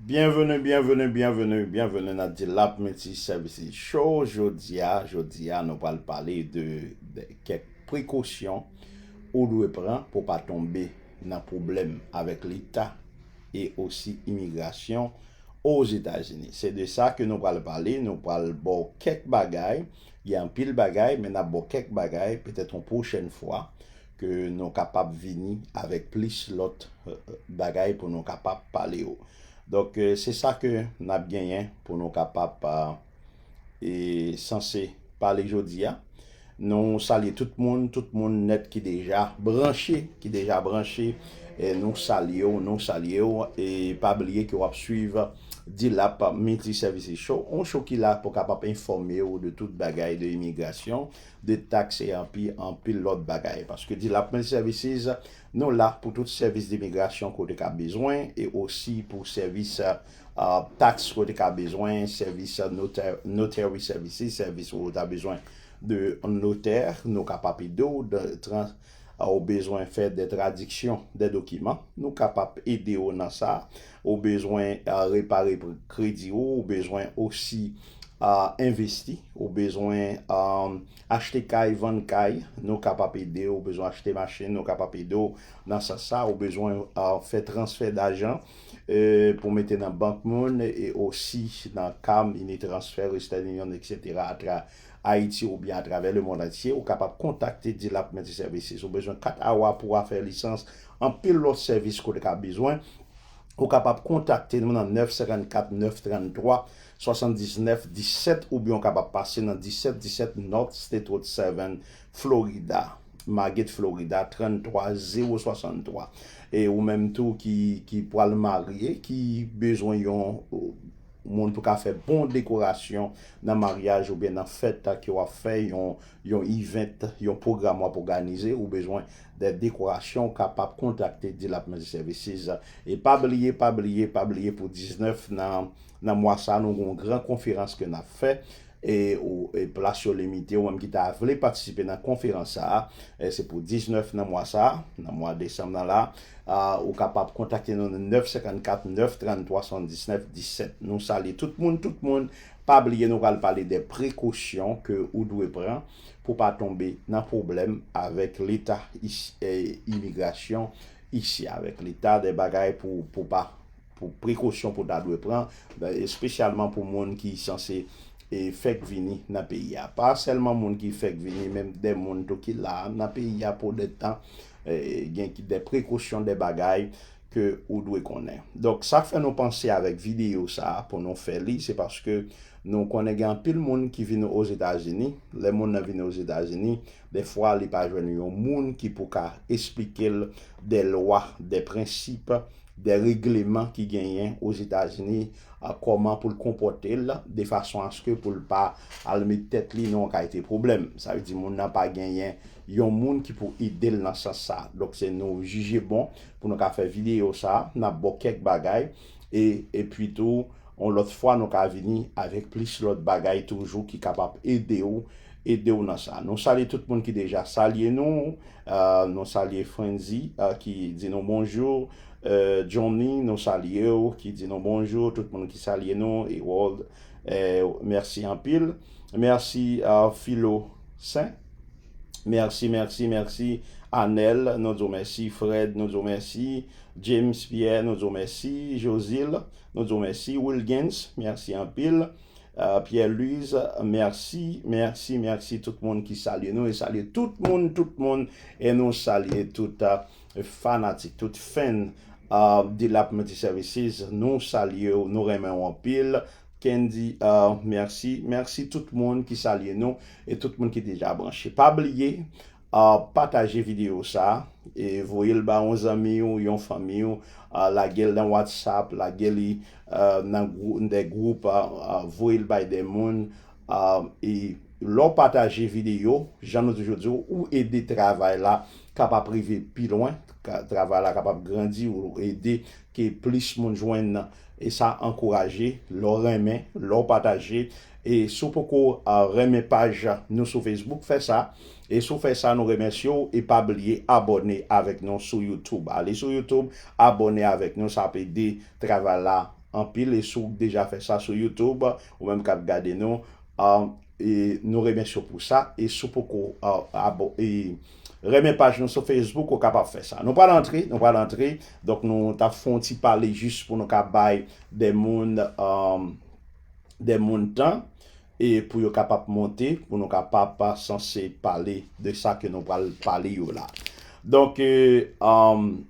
Bienvenue bienvenue bienvenue bienvenue nan Dilap Multi Services Show jodia jodia nou pral pale de kèk prekosyon ou dwe pran pou pa tonbe nan pwoblèm avèk leta e osi imigrasyon ozetazini se de sa ke nou pral pale nou pral baw kèk bagay gen anpil bagay men nap baw kèk bagay petèt yon pwochèn fwa Ke nou kapab vini avèk plis lòt bagay pou nou kapab pale yo. Donk se sa ke n ap genyen pou nou kapab e sanse pale jodi a. Nou salye tout moun, tout moun nèt ki deja branche, ki deja branche nou salye w, nou salye w. E pa bliye ke w ap swiv Dilap Multiservices Show, yon show ki la pou kapab enfòme w de tout bagay de imigrasyon. de tax e anpi anpil lòt bagay. Paske Development Services, nou la pou tout sèvis dimigrasyon ke w te ka bezwen e osi pou sèvis tax ke w te ka bezwen, sèvis notary services, sèvis ou ta bezwen de notè, nou kapap ede w. Ou bezwen fè de tradiksyon de dokiman, nou kapap ede ou nan sa. Ou bezwen repare kredi ou, ou bezwen osi envesti, ou bezwen achte kay, vann kay, nou kapap ede ou, ou bezwen achte machin, nou kapap ede ou nan sans sa, ou bezwen fè transfè dajan pou mete nan bank moun e osi nan ka mini transfè, western union, etc. Ayiti oubyen atravè le mond antye, ou kapab kontakte Dilap Multi Services. Ou bezwen kat awa pou afè lisans, anpil lòt sèvis ke w te ka bezwen, ou kapab kontakte nou nan 954 933 79 17 oubyen w kapab pase nan 1717 North State Road 7, Florida, Margate, Florida 33063. E ou menm tou ki pwal marye, ki bezwen yon. Moun pou ka fè bon dekorasyon nan maryaj oubyen nan fèt ke w ap fè, yon event, yon pwogram w ap oganize, ou bezwen de dekorasyon, ou kapab kontakte D-Lap Multi Services. E pa bliye, pa bliye, pa bliye pou 19 nan mwa sa nou gen yon gran konferans ke n ap fè, e plas yo limite, ou menm ki ta vle patisipe nan konferans sa a, se pou 19 nan mwa sa a, nan mwa desanm nan la, ou kapab kontakte nou nan 954 933 79 17. Nou salye tout moun, tout moun, pa bliye nou pral pale de prekosyon ke ou dwe pran pou pa tonbe nan pwoblèm avèk leta imigrasyon isi, avèk leta de bagay pou pa. Pou prekosyon pou ta dwe pran, espesyalman pou moun ki sanse fèk vini nan peyi a. Pa sèlman moun ki fèk vini, men de moun tou ki la nan peyi a pou de tan, gen de prekosyon, de bagay ke ou dwe konnen. Donk, sa fè nou panse avèk videyo sa a pou nou fè li, se paske nou konnen gen anpil moun ki vini Ozetazini, lè moun nan vini Ozetazini, Dè fwa li pa jwenn yon moun ki pou ka esplike l dè lwa, dè prensip, dè regleman ki genyen Ozetazini kòman pou l konpòte l de fason aske pou l pa al met tèt li nan yon kalte pwoblèm. Sa vle di moun nan pa genyen yon moun ki pou ede l nan sans sa. Donk se nou jije bon pou nou ka fè videyo sa, n ap bo kèk bagay e epi tou yon lòt fwa nou ka vini avèk plis lòt bagay toujou ki kapab ede w ede w nan sa. Nou salye tout moun ki deja salye nou, nou salye Frantzy ki di nou bonjou, Johnny nou salye w ki di nou bonjou, tout moun ki salye nou, Herold mèsi anpil, mèsi Philo Saint, mèsi mèsi mèsi Anel nou di w mèsi, Fred nou di w mèsi, James Pierre nou di w mèsi, Josile nou di w mèsi, Wilguens mèsi anpil, Pierre Louise merci merci merci tout moun ki salye nou e salye tout moun tout moun e nou salye tout fanatik tout fèn Delap multi services nou salyew nou renmenw anpil Kendy merci merci tout moun ki salye nou e tout moun ki deja branche pa bliye Pataje videyo sa e voye l ba yon zanmi w, yon fanmi w, lage l nan whatsapp, lage li nan de gwoup, voye l bay de moun e lè w pataje videyo jan nou toujou di w ou ede travay la kapab rive pi lwen, travay la kapab grandi ou ede ke plis moun jwenn nan e sa ankouraje lè w renmen, lè w pataje e si w poko renmen paj nou sou Facebook fè sa. E si w fè sa nou remèsye w e pa bliye abòne avèk nou sou youtube. Ale sou youtube abòne avèk nou sa ap ede travay la anpil e si w deja fè sa sou youtube ou menm kap gade nou nou remèsye w pou sa e si w poko renmen paj nou sou facebook ou kapab fè sa. Nou pral antre nou pral antre donk nou tap fon ti pale jis pou nou ka bay de moun de moun tan E pou yo kapap monte, pou nou kapap sanse pale de sa ke nou pral pale yo la. Donk,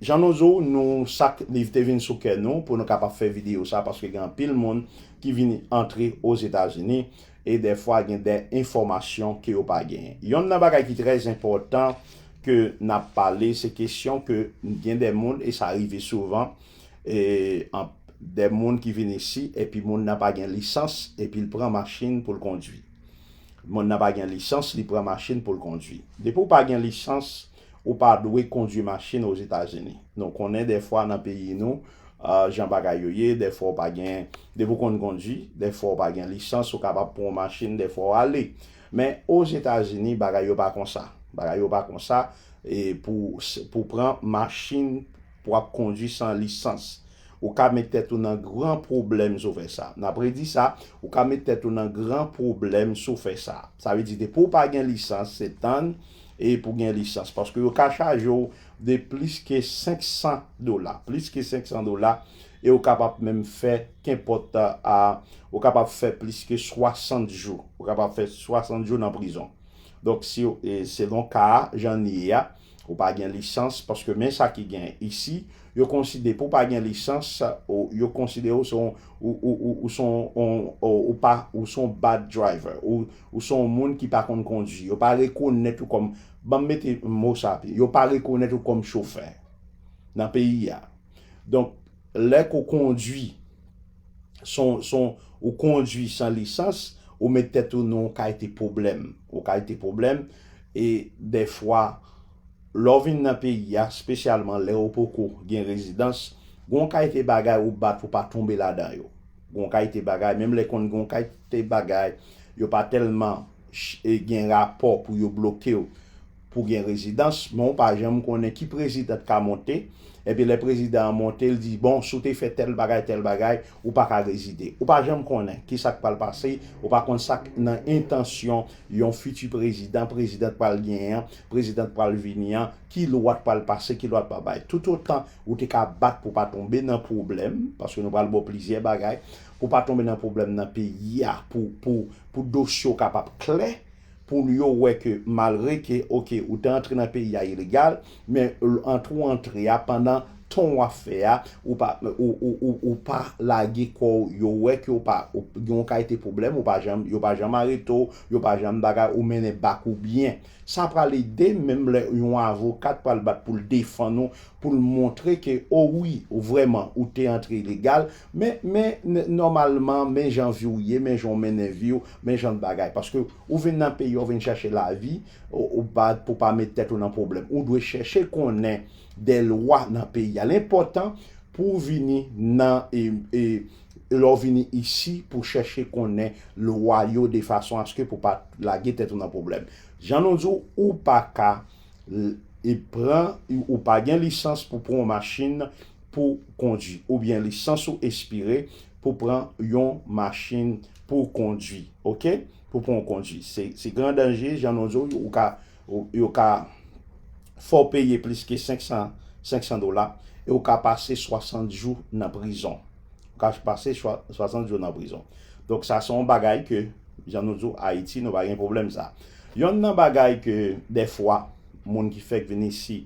jan nou zo, nou sak liv te vin sou kè nou pou nou kapap fè videyo sa paske gen anpil moun ki vin antre Ozetazini e dèfwa gen dè enfòmasyon ke yo pa gen. Yonn nan bagay ki trè enpòtan ke nap pale se kesyon ke gen dè moun e sa rive souvan de moun ki vin isi epi moun nan pa gen lisans epi l pran machin pou l kondwi. Moun nan pa gen lisans li pran machin pou l kondwi. Depi w pa gen lisans ou pa dwe kondwi machin Ozetazini. Nou konnen dèfwa nan peyi nou jan bagay yo ye, dèfwa w pa gen, depi w konn kondwi, dèfwa w pa gen lisans ou kapab pran yon machin dèfwa w ale. Men Ozetazini bagay yo pa konsa. Bagay yo pa konsa pou pran machin. Pou ap kondwi san lisans. Ou ka met tèt ou nan gran pwoblèm si w fè sa. N ap redi sa, ou ka met tèt ou nan gran pwoblèm si w fè sa. Sa vle di depi w pa gen lisans, se tann e pou gen lisans. Paske yo ka chaje w de plis ke 500 dola. Plis ke 500 dola e ou ka pap menm fè kenpòt a ou ka pap fè plis ke 60 jou. Ou ka pap fè 60 jou nan prizon. Donk si w, selon ka a, jan l ye a. Ou pa gen lisans paske men sa ki gen isi yo konside pou pa gen lisans ou yo konside ou son ou son ou pa ou son bad driver ou son moun ki pa konn kondwi yo pa rekonèt ou kòm banm mete mo sa pi yo pa rekonèt ou kòm chofè nan peyi a donk lè ke w kondwi son son ou kondwi san lisans ou met tèt ou nan yon kalte pwoblèm yon kalte pwoblèm e dèfwa lè w vin nan peyi a spesyalman lè ou poko gen rezidans gen yon kalte bagay ou bat pou w pa tonbe ladan yo gen yon kalte bagay menm lè konn gen yon kalte bagay yo pa tèlman gen rapò pou yo bloke w pou gen rezidans men ou pa janm konnen ki prezidan t ka monte epi lè prezidan an monte l di bon si w te fè tèl bagay tèl bagay ou pa ka rezide ou pa janm konnen ki sa k pral pase ou pa konn sa k nan entansyon yon fiti prezidan prezidan t pral genyen an prezidan t pral vini an ki lwa t pral pase ki lwa t pral bay toutotan ou te ka bat pou w pa tonbe nan pwoblèm paske nou pral ba w plizyè bagay pou w pa tonbe nan pwoblèm nan peyi a pou pou pou dosye w kapab klè. pou l yo wè ke malre ke ok ou te antre nan peyi a ilegal men antre ou antre a pandan tan w ap fè a ou pa ou pa lage kò w yo wè ke ou pa gen yon kalite pwoblèm ou pa janm yo pa janm arete w yo pa janm bagay ou mennen bak ou byen sa pral ede menm lè yon avoka t pral bat pou l defann ou pou l montre ke o wi vrèman ou te antre ilegal. Men, men, nòmalman, men jan vi w ye, men jan w mennen vi w, men jan bagay. Paske ou vin nan peyi a, ou vin chèche lavi, ou pa, pou pa met tèt ou nan pwoblèm. Ou dwe chèche konnen de lwa nan peyi a. L enpòtan pou w vini nan, e, e, lè w vini isi, pou w chèche konnen lwa yo defason aske pou pa lage tèt ou nan pwoblèm. Jan nou di w, ou pa ka. pran ou pa gen lisans pou pran yon machin pou kondwi oubyen lisans ou espire pou pran yon machin pou kondwi ok pou pran yon kondwi se gran danje jan nou di ou ka yo ka fò peye plis ke 500 dola e ou ka pase 60 jou nan prizon. ka pase 60 jou nan prizon donk sa se yon bagay ke jan nou di w ayiti nou pa gen pwoblèm sa yonn nan bagay ke dèfwa moun ki fèk vin isi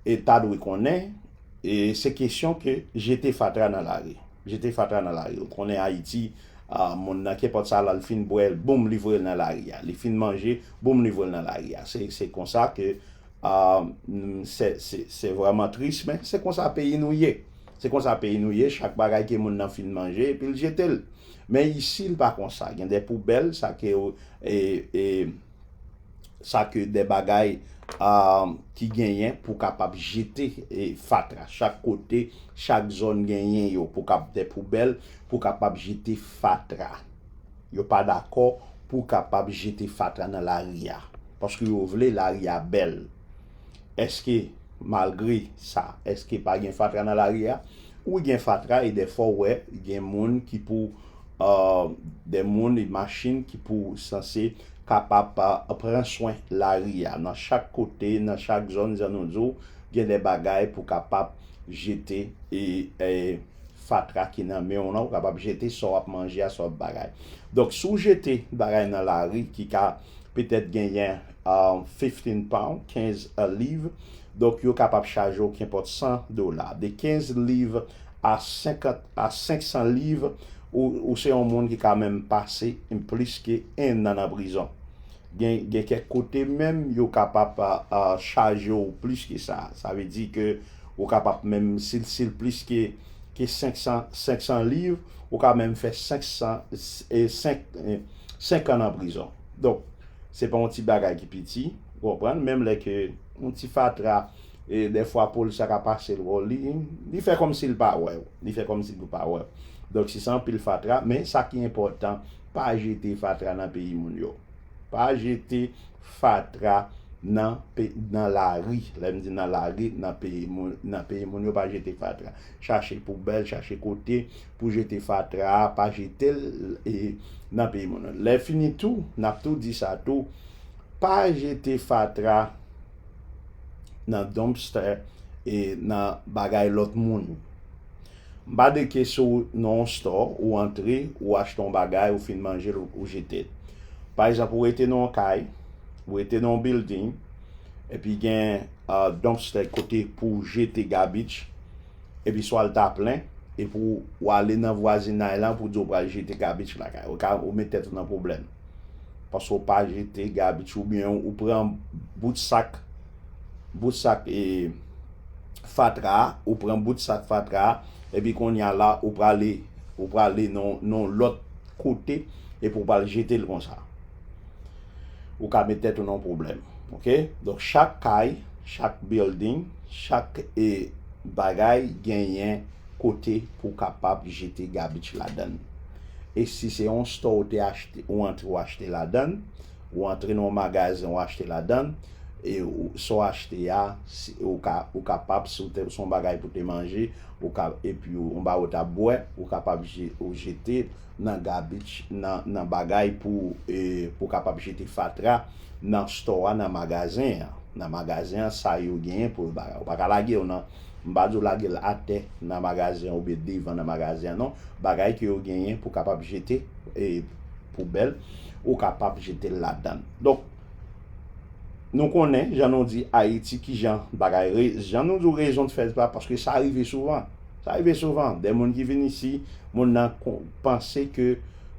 e ta dwe konnen e se kesyon ke jete fatra nan lari jete fatra nan lari ou konnen ayiti a moun nan kenpòt sa la li fin bwè l boum li voye l nan lari a li fin manje boum li voye l nan lari a se se konsa ke a se se vrèman tris men se konsa peyi nou ye. Se konsa peyi nou ye, chak bagay ke moun nan fin manje epi l jete l. Men isi l pa konsa, gen de poubèl, sa ke yo e sa ke de bagay ki genyen pou kapab jete fatra. Chak kote, chak zòn genyen yo pou kap de poubèl pou kapab jete fatra. Yo pa dakò pou kapab jete fatra nan lari a. Paske yo vle lari a bèl. Eske malgre sa eske pa gen fatra nan lari a? Wi gen fatra e dèfwa ou wè gen moun ki pou de moun e machin ki pou sanse kapab pran swen lari a. Nan chak kote, nan chak zòn jan nou di w gen de bagay pou kapab jete e fatra ki nan men w lan ou kapab jete sa w ap manje a sa w ap bagay. Donk si w jete bagay nan lari ki ka petèt genyen. fifteen pound, kenz liv, donk yo kapab chaje w kenpòt san dola. De kenz liv a senkant a senk san liv, ou ou se yon moun ki ka menm pase plis ke ennan nan prizon. Gen gen kèk kote menm yo kapab chaje w plis ke sa. Sa vle di ke ou kapab menm si l si l plis ke ke senk san senk san liv, ou ka menm fè senk san senk senkan nan prizon. Donk, se pa yon ti bagay ki piti, ou konprann, menm lè ke yon ti fatra, dèfwa po l sa ka pase l wè w, li fè kòmsi l pa wè w, li fè kòmsi l pa wè w. Donk, si se anpil fatra, men sa ki enpòtan, pa jete fatra nan peyi moun yo. Pa jete fatra nan nan lari, lè m di nan lari, nan peyi moun yo, pa jete fatra. Chache poubèl, chache kote. Pou jete fatra a pa jete l nan peyi moun. Lè fini tou n ap tou di sa tou pa jete fatra nan dumpster e nan bagay lòt moun. M pa de ke si w nan yon store ou antre ou achte yon bagay ou fin manje l ou jete l. Pa egzanp ou rete nan yon kay, ou rete nan yon building epi gen dumpster kote pou w jete garbage Epi swa l ta plen, epi ou ale nan vwazinay lan pou di ou pral jete gabich lakay. Ou ka ou met tèt ou nan pwoblèm. Paske ou pa jete gabich oubyen ou pran bout sak bout sak e fatra a, ou pran bout sak fatra a, epi kounye a la ou prale ou prale nan yon lòt kote epi ou pral jete l konsa. Ou ka met tèt ou nan pwoblèm. Ok? Donk chak kay, chak building, chak e bagay genyen kote pou kapab jete garbage ladan. E si se yon store ou te achte, ou antre ou achte ladan, ou antre nan yon magazen ou achte ladan, e sa w achte a, ou ka, ou kapab si w te, se yon bagay pou te manje, ou ka, epi yon bagay ou ta bwè, ou kapab je, ou jete, nan garbage nan nan bagay pou pou kapab jete fatra nan store a nan magazen an nan magazen an sa yo genyen pou yo bagay ou pa ka lage yo nan m pa di w lage l atè nan magazen an oubyen devan nan magazen an non bagay ke yo genyen pou kapab jete e poubèl ou kapab jete l ladann donk nou konnen jan nou di ayiti kijan bagay re jan nou di w rezon t fè sa paske sa rive souvan. Sa rive souvan, de moun ki vin isi, moun nan panse ke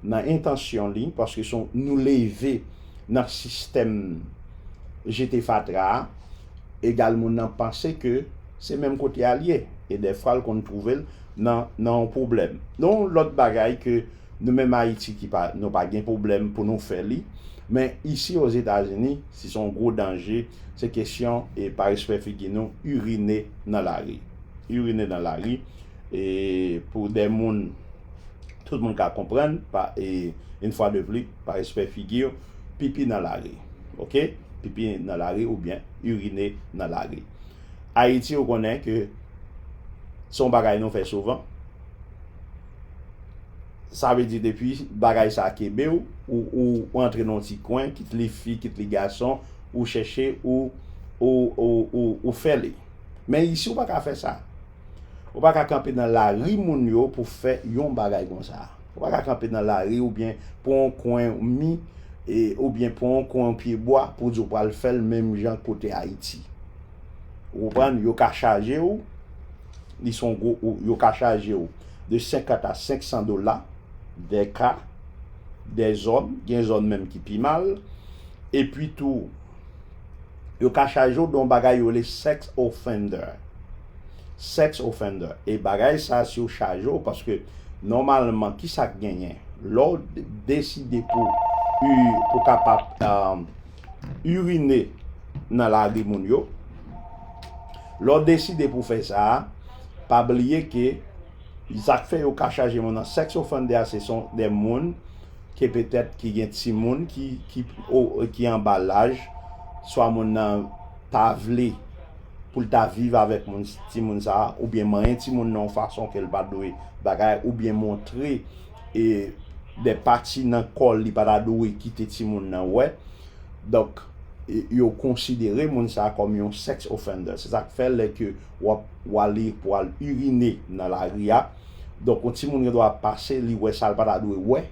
nan entansyon li, paske son nou leve nan sistèm jete fatra a, egal moun nan panse ke se menm kote a l ye, e dèfwa l konn twouve l nan yon pwoblèm. Yon lòt bagay ke Nou menm Ayiti ki pa nou pa gen pwoblèm pou nou fè li. Men isi Ozetazini, si son gwo danje, se kesyon e pa respè figi nou urine nan lari. Urine nan lari e pou de moun tout moun ka konprann pa e une fois de plus pa respè figi yo pipi nan lari. Ok pipi nan lari oubyen urine nan lari. Ayiti ou konnen ke son bagay nou fè souvan. Sa vle di depi bagay sa kenbe w, ou antre nan yon ti kwen, kit li fi, kit li gason, ou chèche ou fè li. Men isi ou pa ka fè sa. Ou pa ka kanpe nan lari moun yo pou fè yon bagay konsa. Ou pa ka kanpe nan lari oubyen pran yon kwen mi, oubyen pran yon kwen yon pye bwa pou w di w pral fè l menm jan kote Ayiti. Ou konprann? Yo ka chaje ou, li son gwo, yo ka chaje ou de 50 a 500 dola, dè ka, dè zòn, gen zòn menm ki pi mal. E pi tou, yo ka chaje ou de yon bagay yo rele sex offender. Sex offender. E bagay sa si yo chaje ou, paske nòmalman ki sa k genyen? Lè w deside pou ou kapab. urine nan lari moun yo, lè w deside pou w fè sa a, pa bliye ke sa k fè yo ka chaje moun an sex offender se son de moun ke petèt ki gen timoun ki anba laj, swa moun nan pa vle pou l ta viv avèk timoun sa a oubyen manyen timoun nan yon fason ke l pa dwe bagay oubyen montre e de pati nan kòl li pata dwe kite timoun nan wè donk yo konsidere moun sa kòm yon sex offender se sak fè lè ke wap wale pou al urine nan lari a donk yon timoun gen dwa ap pase li wè sal pata dwe wè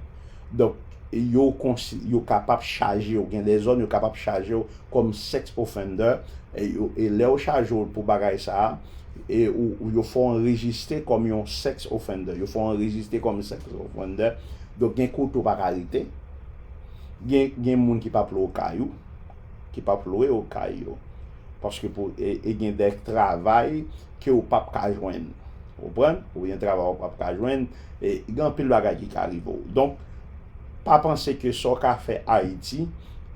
donk yo konsi yo kapab chajew gen de zòn yo kapab chajew kòm sex offender e yo e lèw chajew pou bagay sa. e ou yo fè w anrejiste kòm yon sex offender, yo fè w anrejiste kòm yon sex offender, donk gen kote ou pa ka rete, gen moun ki pa p lwe w kay ou, ki pa p lwe w kay yo, paske pou, e gen dè travay ke ou pa p ka jwenn, ou konprann, ou gen travay ou pa p ka jwenn, e gen anpil bagay ki ka rive w. Donk, pa panse ke sa w ka fè Ayiti,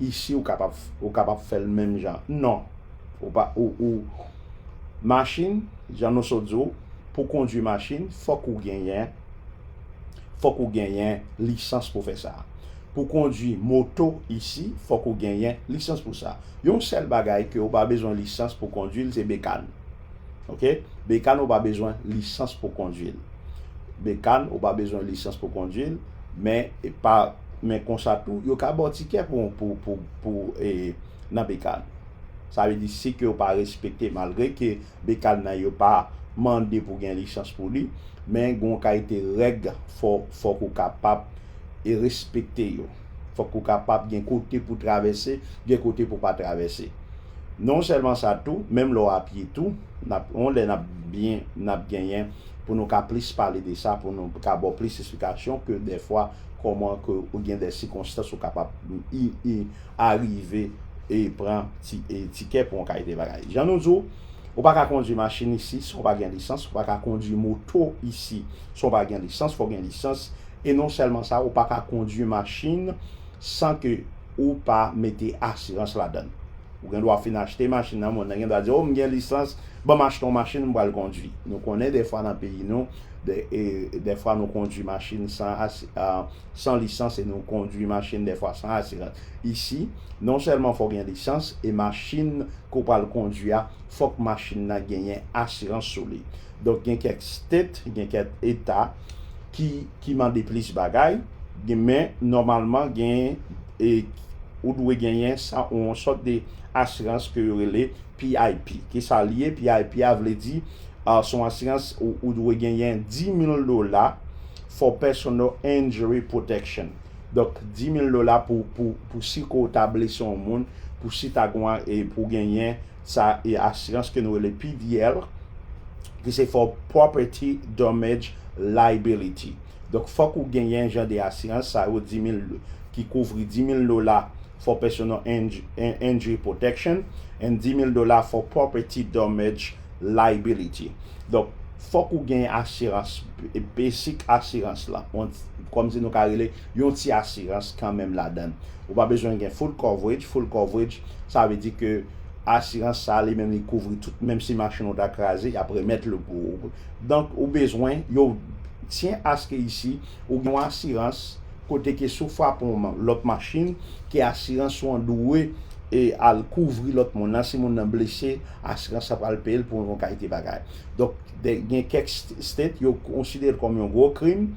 isi ou kapab, ou kapab fè l menm jan, non! Ou pa ou ou Machin jan nou sot di w pou kondwi machin fòk ou genyen fòk ou genyen lisans pou fè sa. Pou kondwi moto isi fòk ou genyen lisans pou sa. Yon sèl bagay ke ou pa bezwen lisans pou kondwi l se bekan. Ok bekan ou pa bezwen lisans pou kondwi l. Bekan ou pa bezwen lisans pou kondwi l men pa men konsa tou yo ka ba w tikè pou pou pou pou e nan bekan. Sa vle di si kew pa respekte malgre ke bekal nan yo pa Mande pou gen lisans pou li men gon kalite règ fòk ou kapab e respekte yo fòk ou kapab gen kote pou travèse gen kote pou pa travèse non sèlman sa tou menm lè w a pye tou nap yon lè nap byen nap genyen pou nou ka plis pale de sa pou nou ka baw plis esplikasyon ke dèfwa kòman ke ou gen dè sikonstans ou kapab arive e pran ti e tikè pou yon kalite bagay. Jan nou di w, ou pa ka kondwi machin isi san w pa gen lisans, ou pa ka kondwi moto isi san w pa gen lisans, fò w gen lisans. E non sèlman sa, ou pa ka kondwi machin san ke ou pa mete asirans ladan l. Ou gen dwa fin achte machin nan, moun nan gen dwa di w, o m gen lisans, ban m achte yon machin m pral kondwi. Nou konnen dèfwa nan peyi nou, dèfwa nou kondwi machin san san lisans e nou kondwi machin dèfwa san asirans. Isi, non sèlman fò w gen lisans, e machin ke w pral kondwi a, fòk machin nan genyen asirans sou li. Donk gen kèk state, gen kèk eta ki ki mande plis bagay, gen men nòmalman gen e ou dwe genyen sa yon sòt de asirans ke yo rele PIP, kisa li ye? PIP a vle di, se yon asirans ou dwe genyen 10,000 dola for personal injury protection. Donk 10,000 dola pou si ke w ta blese yon moun, pou si ta gen yon, pou w genyen sa asirans ke nou rele PDL, ki se for property damage liability. Donk fòk ou genyen jan de asirans sa yo, 10,000, ki kouvri 10,000 dola. for personal injury protection and 10,000 dola for property damage liability. Donk, fòk ou gen asirans, basic asirans lan, kòm si nou ka rele yon ti asirans kanmenm ladan l. Ou pa bezwen gen full coverage, full coverage sa vle di ke asirans sa li menm li kouvri tout, menm si machin ou ta kraze y ap remèt l pou ou. Donk, ou bezwen, yo tyen aske isi ou gen yon asirans, kote ke si w frape yon lòt machin, ke asirans ou an dwe al kouvri lòt moun nan, si moun nan blese, asirans la pral peye l pou yon kalite bagay. Donk, gen kèk state yo konsidere l kòm yon gwo krim,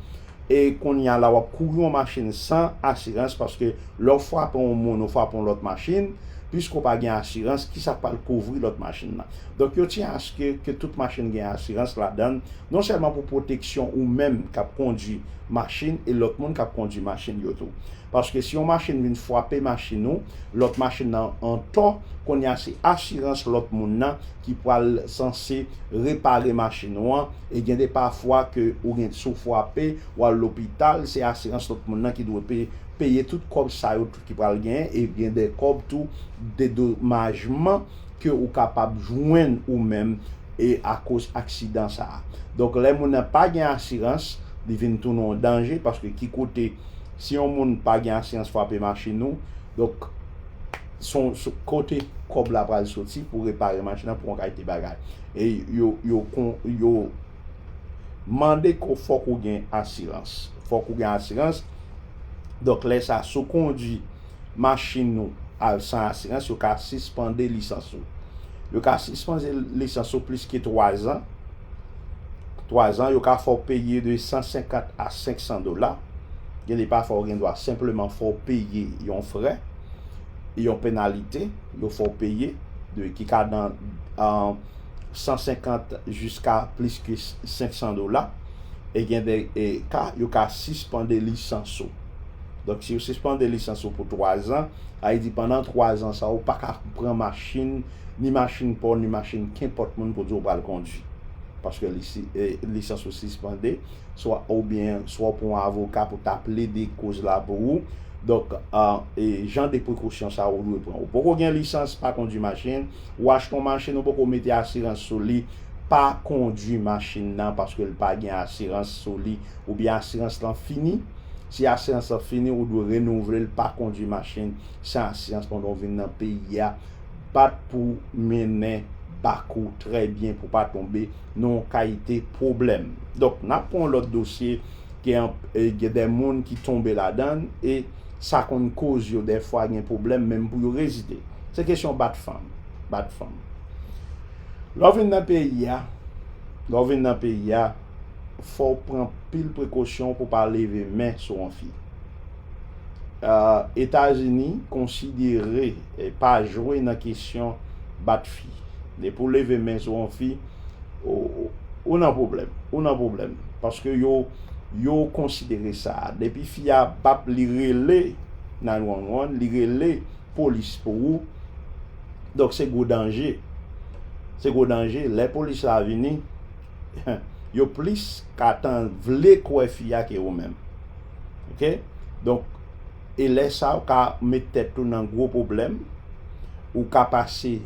e kounye a la w ap kouri yon machin san asirans, paske lè w frape yon moun, ou frape yon lòt machin, piske w pa gen asirans, ki sa k pral kouvri lòt machin nan? Donk, yo tyen aske ke tout machin gen asirans ladan l, non sèlman pou pwoteksyon ou menm k ap kondwi, machin e lòt moun k ap kondui machin yo tou. Paske si yon machin vin fwape machin ou, lòt machin nan antò, kounye a se asirans lòt moun nan ki pral sanse repare machin ou an e gen de pafwa ke ou gen si w fwape, w al lopital, se asirans lòt moun nan ki dwe peye tout kòb sa yo. ki pral genyen e gen de kòb tou dedomajman ke ou kapab jwenn ou menm e akoz aksidan sa a. Donk lè moun nan pa gen asirans, li vin tounen yon danje paske ki kote si yon moun pa gen asirans frape machin ou, donk son kote kòb la pral soti pou repare machin nan pou yon kalite bagay. E yo yo yo. Mande ke w fòk ou gen asirans. Fòk ou gen asirans. Donk lè sa si w kondwi machin ou al san asirans yo ka sispande lisans ou. Yo ka sispande lisans ou plis ke 3 zan. 3 zan yo ka fè w peye de 150 a 500 dola. Gen de pafwa ou gen dwa senpleman fè w peye yon frè, yon penalite yo fè w peye de ki ka nan. 150 jiska plis ke 500 dola, e gen de ka yo ka sispande lisans ou. Donk si yo sispande lisans ou pou 3 zan, sa vle di pandan 3 zan sa ou pa ka pran machin, ni machin pa w, ni machin kenpòt moun pou di ou pral kondwi. Paske lisans ou sispande, swa oubyen swa ou pran yon avoka pou ta plede koz la pou ou. Donk jan de prekosyon sa ou dwe pran. Ou poko gen lisans, pa kondwi machin. Ou achte yon machin ou poko mete asirans sou li, pa kondwi machin nan paske l pa gen asirans sou li oubyen asirans lan fini. Si asirans lan fini ou dwe renouvle l, pa kondwi machin san asirans pandan w vin nan peyi a. Bat pou mennen bak ou trè byen pou pa tonbe nan yon kalite pwoblèm. Donk, n ap pran yon lòt dosye, gen de moun ki tonbe ladan l e. Sa konn koz yo dèfwa gen pwoblèm menm pou yo rezide. Se kesyon bat fanm. Bat fanm. Lè w vin nan peyi a, lè w vin nan peyi a, fò w pran pil prekosyon pou w pa leve men sou yon fi. Etazini konsidere pa jwe nan kesyon bat fi. Depi w leve men sou yon fi. ou nan pwoblèm, ou nan pwoblèm. Paske yo, yo konsidere sa. Depi fi a pap li rele 911, li rele polis pou ou, donk se gwo danje. Se gwo danje. Lè polis la vini, yo plis ka tan vle kwè fi a ke ou menm. Ok? Donk, e lè sa ou ka met tèt ou nan gwo pwoblèm, ou ka pase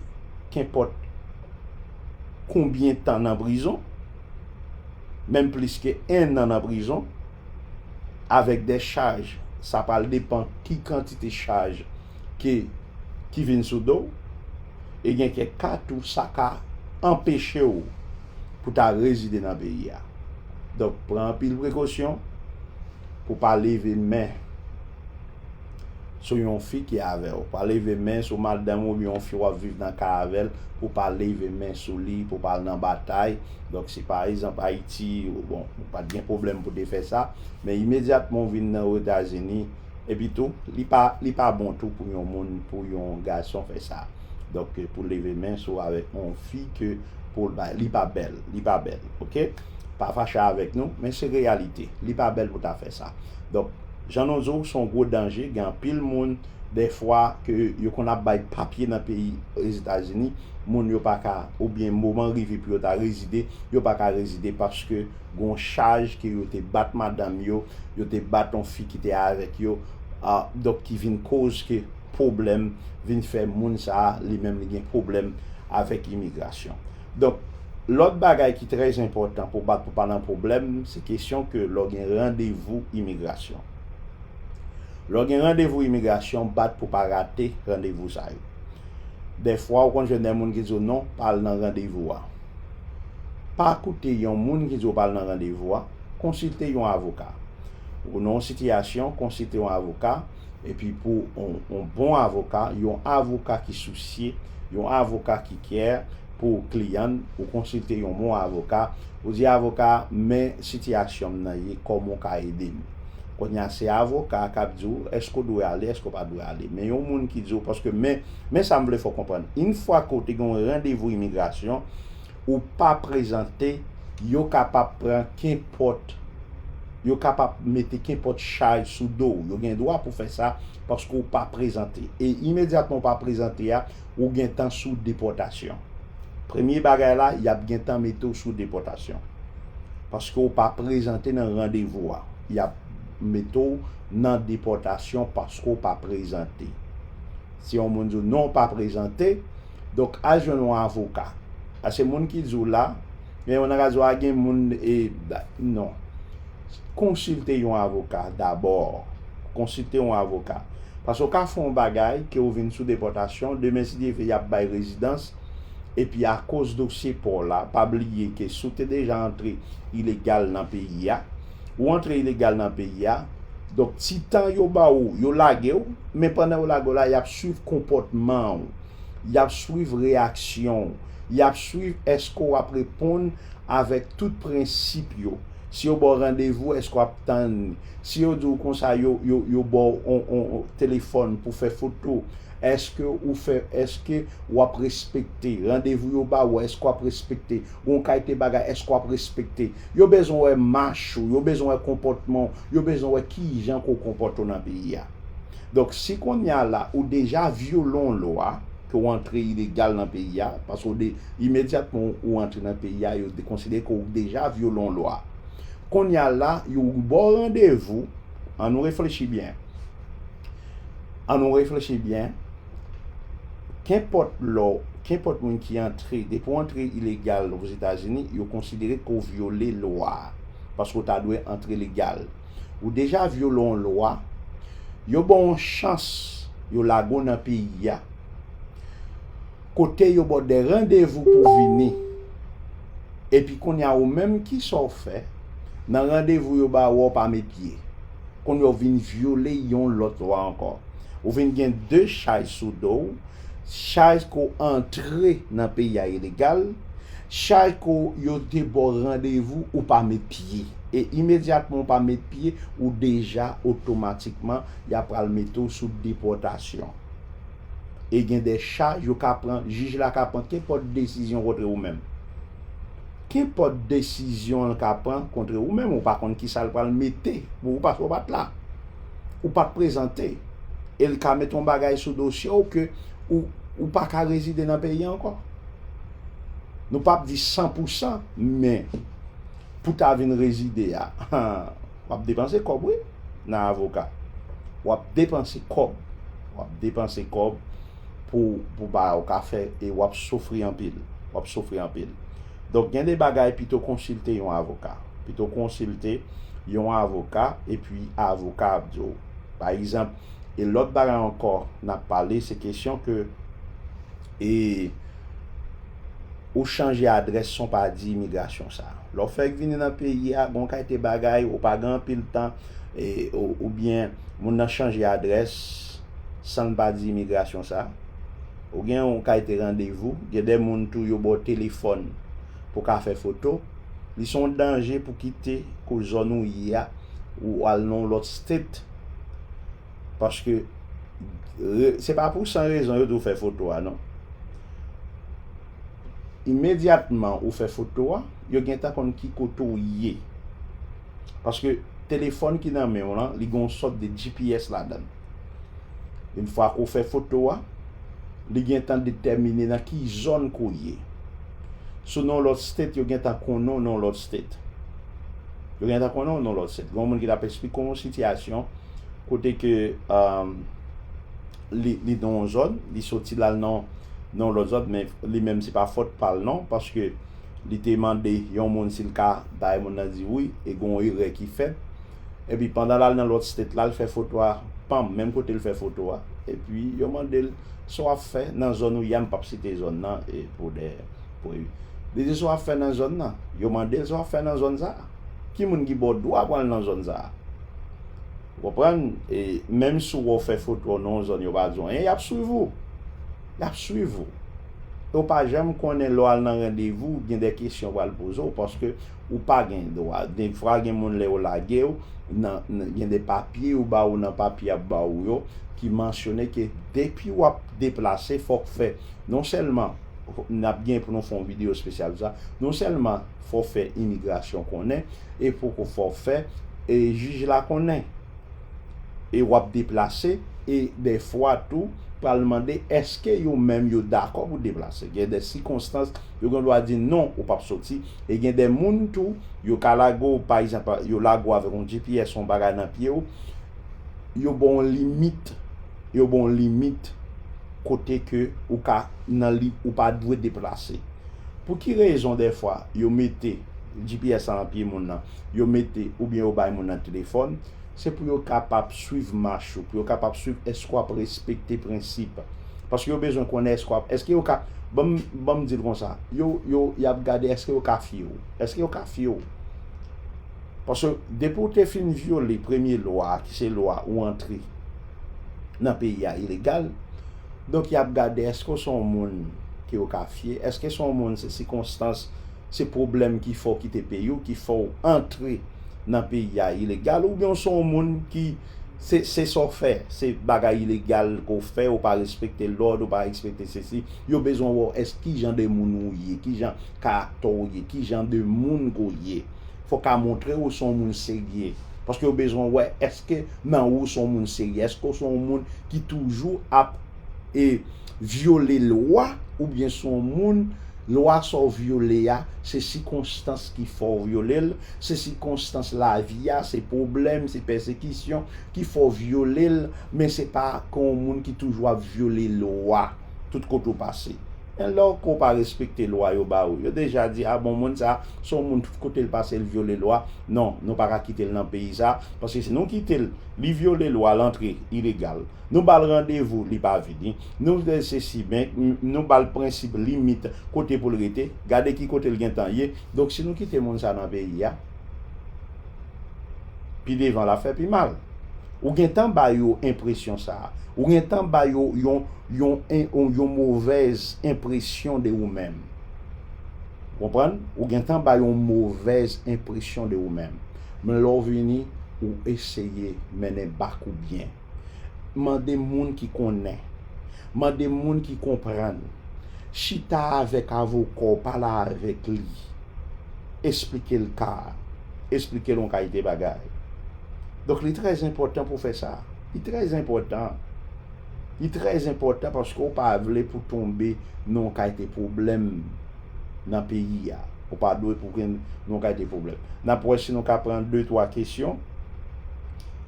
kenpòt. konbyen tan nan prizon, menm plis ke 1 an nan prizon, avèk dè chaj, sa pral depan ki kantite chaj ke ki vin sou do w, e gen kèk ka tou sa ka anpeche w pou ta rezide nan peyi a. Donk pran anpil prekosyon pou pa leve men. sou yon fi ki avèw pa leve men sou madanm oubyen yon fi wap viv nan kay avèl pou pa leve men sou li pou pa al nan batay donk si pa egzanp ayiti bon ou pat gen pwoblèm pou te fè sa men imedyatman ou vin nan otazini epi tou li pa li pa bon tou pou yon moun pou yon gason fè sa donk pou leve men sou avèk yon fi ke poul bay li pa bèl li pa bèl ok pa fache avèk nou men se reyalite li pa bèl pou ta fè sa donk. Jean Nonzo ou son gwo danje gen anpil moun dè fwa ke yo konn ap bay papye nan peyi ozetazini moun yo pa ka ou byen moman rive pou yo ta rezide yo pa ka rezide paske gon chaj ke yo te bat madanm yo yo te bat on fi ki te avèk yo ah donk ki vin koz ke pwoblèm vin fè moun sa li menm li gen pwoblèm avèk imigrasyon. Donk, lòt bagay ki trè enpòtan pou bat pou pa nan pwoblèm, se kesyon ke lè w gen randevou imigrasyon. Lè w gen randevou imigrasyon, bat pou pa rate randevou sa yo. Dèfwa ou konn jwenn dè moun ki di w non, pa al nan randevou a. Pa koute yon moun ki di w pa al nan randevou a, konsilte yon avoka. Ou nan yon sitiyasyon, konsilte yon avoka. epi pou yon bon avoka, yon avoka ki sousye, yon avoka ki care pou kliyan l, ou konsilte yon bon avoka, ou di avoka a, men sitiyasyon m nan ye, kòman w ka ede m? Kounye a se avoka a k ap di w èske w dwe ale, èske w pa dwe ale. Men yon moun ki di w, paske men sa m vle fè w konprann, infwa ke w te gen yon randevou imigrasyon, ou pa prezante, yo kapab pran kenpòt, yo kapab mete kenpòt chay sou do w. Yo gen dwa pou fè sa paske ou pa prezante. E imedyatman ou pa prezante a, ou gentan sou depòtasyon. Premye bagay la, y ap gentan mete w sou depòtasyon. Paske ou pa prezante nan randevou a. Y ap mete w nan depòtasyon paske ou pa prezante. Si yon moun di w non ou pa prezante, Donk al jwenn yon avoka. Paske moun ki di w la, gen yon nan ka di w a gen moun e non. Konsilte yon avoka dabò. Konsilte yon avoka. Paske w ka fè yon bagay ke w vin sou depòtasyon, demen si Dye vle y ap bay rezidans, epi akoz dosye pa w la, pa bliye ke si w te deja antre ilegal nan peyi a, ou antre ilegal nan peyi a, donk ti tan yo ba w, yo lage w, men pandan yo lage w la y ap swiv konpòtman w. Y ap swiv reyaksyon w. Y ap swiv èske w ap reponn avèk tout prensip yo. Si yo ba w randevou, èske w ap tann li? Si yo di w konsa yo ba w yon telefòn pou fè foto, èske ou fè, èske w ap respekte? Randevou yo ba ou, èske w ap respekte? Gen yon kalite bagay, èske w ap respekte? Yo bezwen wè mach ou, yo bezwen wè konpòtman w, yo bezwen wè kijan ke w konpòte w nan peyi a. Donk si kounye a la ou deja vyole yon lwa ke w antre ilegal nan peyi a, paske w de, imedyatman ou antre nan peyi a yo dekonsidere ke w deja vyole yon lwa. Kounye a la yo ba w randevou, an nou reflechi byen, an nou reflechi byen, kenpòt lè w, kenpòt moun ki antre, depi w antre ilegal Ozetazini, yo konsidere ke w vyole lwa a, paske w ta dwe antre legal. Ou deja vyole yon lwa, yo ba w yon chans, yo lage w nan peyi a, kote yo ba w de randevou pou w vini. Epi kounye a ou menm ki sa w fè? Nan randevou yo ba w a, w pa met pye. Kounye a ou vin vyole yon lòt lwa ankò. Ou vin gen 2 chay sou do w. chaj ke w antre nan peyi a ilegal, chaj ke w yo te ba w randevou ou pa met pye. E imedyatman ou pa met pye, ou deja otomatikman y ap pral mete w sou depòtasyon. E gen de chaj yo ka pran, jij la ka pran kenpòt desizyon kontre ou menm. Kenpòt desizyon l ka pran kontre ou menm, ou pa konn kisa l pral mete pou ou paske ou pa t la. Ou pa t prezante. E l ka mete yon bagay sou dosye w ke ou pa ka rezide nan peyi a ankò. Nou pa p di san pou san, men pou ta vin rezide a, w ap depanse kòb wi nan avoka. W ap depanse kòb. W ap depanse kòb. pou pou ba ou ka fè e wap soufri anpil wap soufri anpil donk gen de bagay pito konsilte yon avoka pito konsilte yon avoka epi avoka ap di ou pa egzanp e lòt bagay ankò nap pale se kesyon ke e ou chanje adrès son pa di imigrasyon sa lè ou fèk vini nan peyi a gon kayte bagay ou pa gen anpil tan e oubyen moun nan chanje adrès. sanl pa di imigrasyon sa ou gen yon kalte randevou gen de moun tou yo baw telefòn pou ka fè foto li son danje pou kite ko zòn ou ye a ou al nan yon lòt state paske se pa pou san rezon yo diw fè foto a non imedyatman ou fè foto a yo gentan konn ki kote ou ye paske telefòn ki nan menw lan li gen yon sòt de GPS ladann. Yn fwa ke w fè foto a, li gentan detèmine nan ki zòn ke w ye. Si w nan yon lòt state, yo gentan konnen w nan yon lòt state. Yo gentan konnen w nan yon lòt state. Gen yon moun ki t ap esplike w yon sitiyasyon kote ke li nan yon zòn, li soti la l nan yon lòt zòn men li menm se pa fòt pa l non paske li te mande yon moun si l ka bay moun nan di wi e gen yon erè ki fèt. epi pandan lal nan lòt state lal fè foto a pam menm kotel fè foto a epi yo mandel sa wap fè nan zòn ou ye a m pap site zòn nan e pou dè pou evi li di sa wap fè nan zòn nan yo mandel sa wap fè nan zòn sa ki moun ki baw dwa pou al nan zòn sa ou konprann e menm si wè w fè foto nan yon zòn yo pa di w anyen yap swiv ou yap swiv ou e w pa janm konnen lè w al nan randevou gen dè kesyon yo pral poze w paske Ou pa gen dwa. De fwa gen moun lè yo lage ou, nan, gen de papye yo ba ou nan papye y ap ba ou yo, ki mansyone ke depi w ap deplase fò k fè, non sèlman, n ap gen pou nou fè yon videyo espesyal sou sa, non sèlman fò w fè imigrasyon konnen, e poko fò w fè e jij la konnen e w ap deplase, e de fwa tou pral mande èske yo menm yo dakò pou deplase. Gen de sikonstans yo gen dwa di non ou p ap soti. E gen de moun tou, yo ka lage w, pa egzanp, yo lage w avèk yon GPS, yon bagay nan pye w, yo ba w yon limit, yo ba w yon limit kote ke ou ka nan li, ou pa dwe deplase. Pou ki rezon dèfwa yo mete GPS la nan pye moun nan, yo mete oubyen yo bay moun nan telefòn, Se pou yo kapab swiv mach ou, pou yo kapab swiv èske w ap respekte prensip. Paske yo bezwen konnen èske w ap, èske yo ka, banm, banm di l konsa, yo, yo, y ap gade èske yo ka fye w. Èske yo ka fye w? Paske depi ou te fin vyole premye lwa a ki se lwa ou antre nan peyi a ilegal, donk y ap gade èske w se yon moun ke yo ka fye, èske se yon moun se sikonstans Se pwoblèm ki fè w kite peyi w ki fè w antre nan peyi a ilegal oubyen w se yon moun ki se sa w fè se bagay ilegal ke w fè ou pa respekte lòd ou pa respekte sesi yo bezwen wè w èske kijan de moun ou ye kijan karaktè w ye kijan de moun ke w ye fò w ka montre ou se yon moun serye paske yo bezwen wè èske nan ou se yon moun serye èske w se yon moun ki toujou ap e vyole lwa oubyen si w on moun lwa sa w vyole a se sikonstans ki fè w vyole l, se sikonstans lavi a, se pwoblèm, se pèsekisyon ki fè w vyole l men se pa ke w on moun ki toujou ap vyole lwa tout kote w pase. Men lè w ke w pa respekte lwa yo ba ou, yo deja di a bon moun sa se w on moun tout kote l pase l vyole lwa, non nou pa ka kite l nan peyi sa paske si nou kite l Li vyole lwa l antre ilegal. Nou ba l randevou li pa vini. Nou di l sesi men nou ba l prensip limit kote pou l rete. Gade ki kote l gentan ye. Donk si nou kite moun sa nan peyi a pi devan l ap fè pi mal. Ou gentan ba yo enpresyon sa a. Ou gentan ba yo yon movèz enpresyon de ou menm. Ou konprann? Ou gentan ba yo yon movèz enpresyon de ou menm. Men lè w vini ou eseye mennen bak ou byen. Mande moun ki konnen. Mande moun ki konprann. Chita avèk avoka w, pale avèk li. Esplike l ka a. Esplike l yon kalite bagay. Donk li trè enpòtan pou w fè sa. Li trè enpòtan. Li trè enpòtan paske w pa vle pou w tonbe nan yon kalite pwoblèm. nan peyi a. Ou pa dwe pou gen yon kalite pwoblèm. N ap wè si nou ka pran de twa kesyon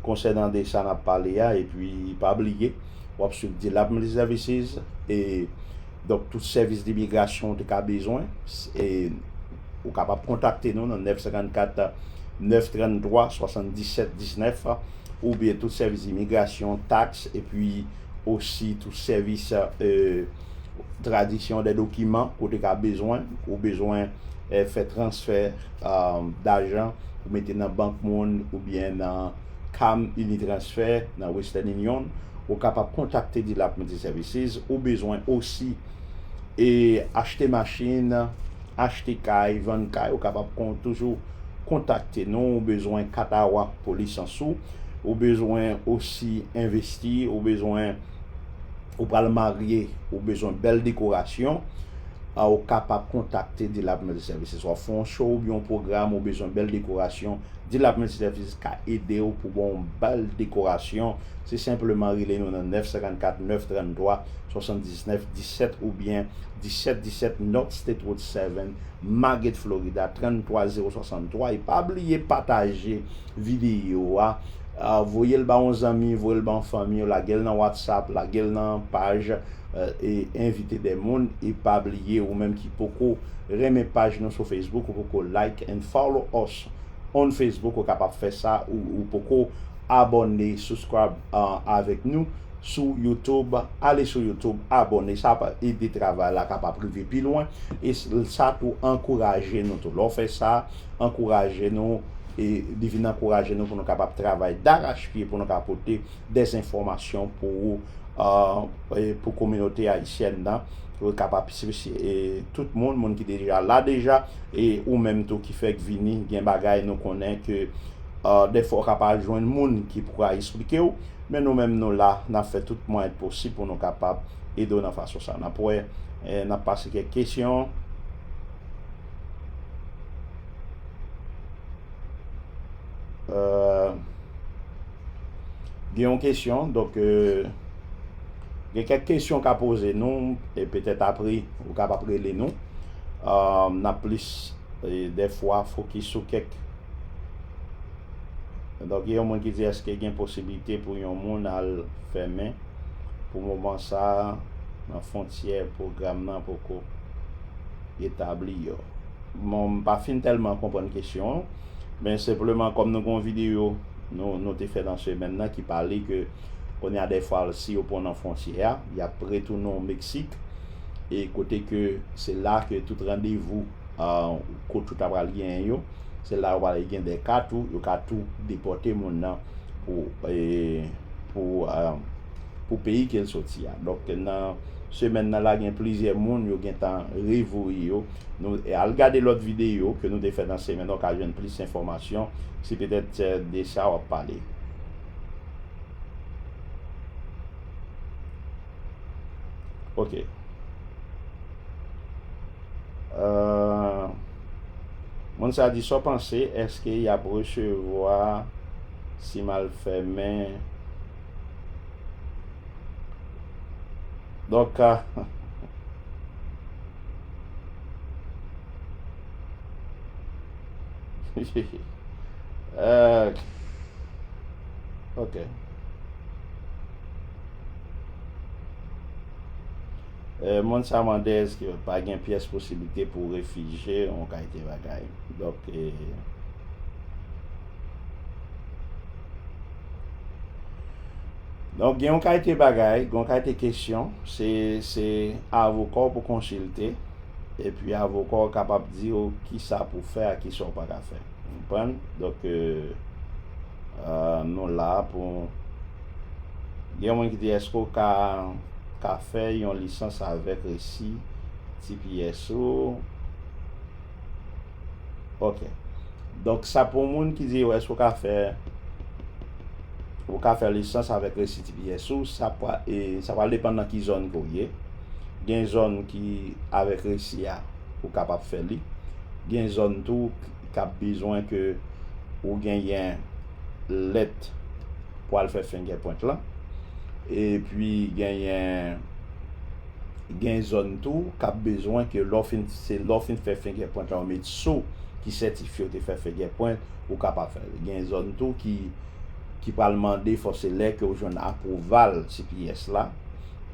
konsènan de sa n ap pale a epi pa bliye w ap suiv Delameles Services e donk tout sèvis dimigrasyon ou te ka bezwen e ou kapab kontakte nou nan 954 933 77 19 oubyen tout sèvis imigrasyon, taks epi osi tout sèvis. tradiksyon dè dokiman kote ka bezwen, ou bezwen fè transfè dajan pou mete nan bank moun oubyen nan Cam Unitransfè nan Western Union, ou kapab kontakte Dilap Multi Services, ou bezwen osi e achte machin, achte kay, vann kay, ou kapab toujou kontakte nou, ou bezwen kat a wak pou lisans ou, ou bezwen osi envesti, ou bezwen. Ou pral marye, ou bezwen bèl dekorasyon, ou kapab kontakte D-Lab Multi Services. Wap fè yon show oubyen yon pwogram ou bezwen bèl dekorasyon, D-Lab Multi Services ka ede ou pou baw yon bèl dekorasyon. Se senpleman rele nou nan 954 933 79 17 oubyen 17 17 North State Road 7, Margate, Florida 33063 e pa bliye pataje. Videyo a voyel ba yon zanmi voyel ba yon fanmi yo lagel nan watsap lagel nan paj envite de moun e pa bliye ou menm ki poko renmen paj nou sou Facebook ou poko like and follow us on Facebook ou kapab fè sa ou poko abòne subscribe avèk nou sou YouTube ale sou YouTube abòne sa ap ede travay la kapab rive pi lwen e sa tou ankouraje nou tou lè w fè sa ankouraje nou. e li vin ankouraje nou pou nou kapab travay darachpye pou nou ka pote de zenfòmasyon pou ou, pou kominote ayisyèn nan, pou l kapab tout moun, moun ki deja la deja, e ou menm tou ki fèk vini, gen bagay nou konnen ke dèfwa ou ka pa jwenn moun ki pou ka esplike ou, men nou menm nou la, n ap fè tout mwayen k posib pou nou kapab ede w nan fason sa. N ap wè, n ap pase kèk kesyon. Euh, gen yon kesyon, donk euh, gen kèk kesyon ka poze nou, e petèt apre ou ka pa prele nou. Euh, n ap plis e dè fwa fokis sou kèk. Donk gen yon moun ki di eske gen posibilite pou yon moun al fèmen pou moman sa nan fontyè pwogram nan poko. etabli yo. Bon m pa fin tèlman konprann kesyon an, men senpleman kòm nou gen yon videyo nou te fè nan semèn nan ki pale ke kounye a dèfwa si yo pran w nan fwontyè a, y ap retounen w Meksik e kote ke se la ke tout randevou kot ou ta pral genyen yo, se la yo pral gen de ka tou yo ka tou depòte moun nan pou pou peyi ke l soti a. Donk nan. semèn nan la gen plizyè moun yo gentan revoye yo nou al gade lòt videyo ke nou te fè nan semèn nan ou ka jwenn plis enfòmasyon si petèt se de sa wap pale. Ok. Euh, moun sa di sa w panse eske y ap resevwa si m al fèmen Donk ka. Euh, ok. Euh, moun sa mande eske pa gen pyès posibilite pou refije on kayte bagay. Donk, e... Euh, Donk gen yon kalite bagay, gen yon kalite kesyon, se se avoka w pou konsilte, epi avoka w kapab di yo ki sa pou fè ak ki sa w pa ka fè. Konprann? Donk euh, euh, nou la pou gen yon moun ki di eske w ka ka fè yon lisans avèk resi TPS ou? Ok. Donk sa pou moun ki di yo eske ou ka fè ou ka fè lisans avèk resi tps ou, sa pa e sa pral depann nan ki zòn ke w ye. Gen zòn ki avèk resi a ou kapab fè li. Gen zòn tou k ap bezwen ke ou genyen lèt pou al fè fengèpwent lan. Epi genyen Gen zòn tou kap bezwen ke lè w fin se lè w fin fè fingèpwent la yo met sou ki sètifye w te fè fingèpwent ou kapab fè l. Gen zòn tou ki ki pral mande fò se lè ke w jwenn apwouval tps la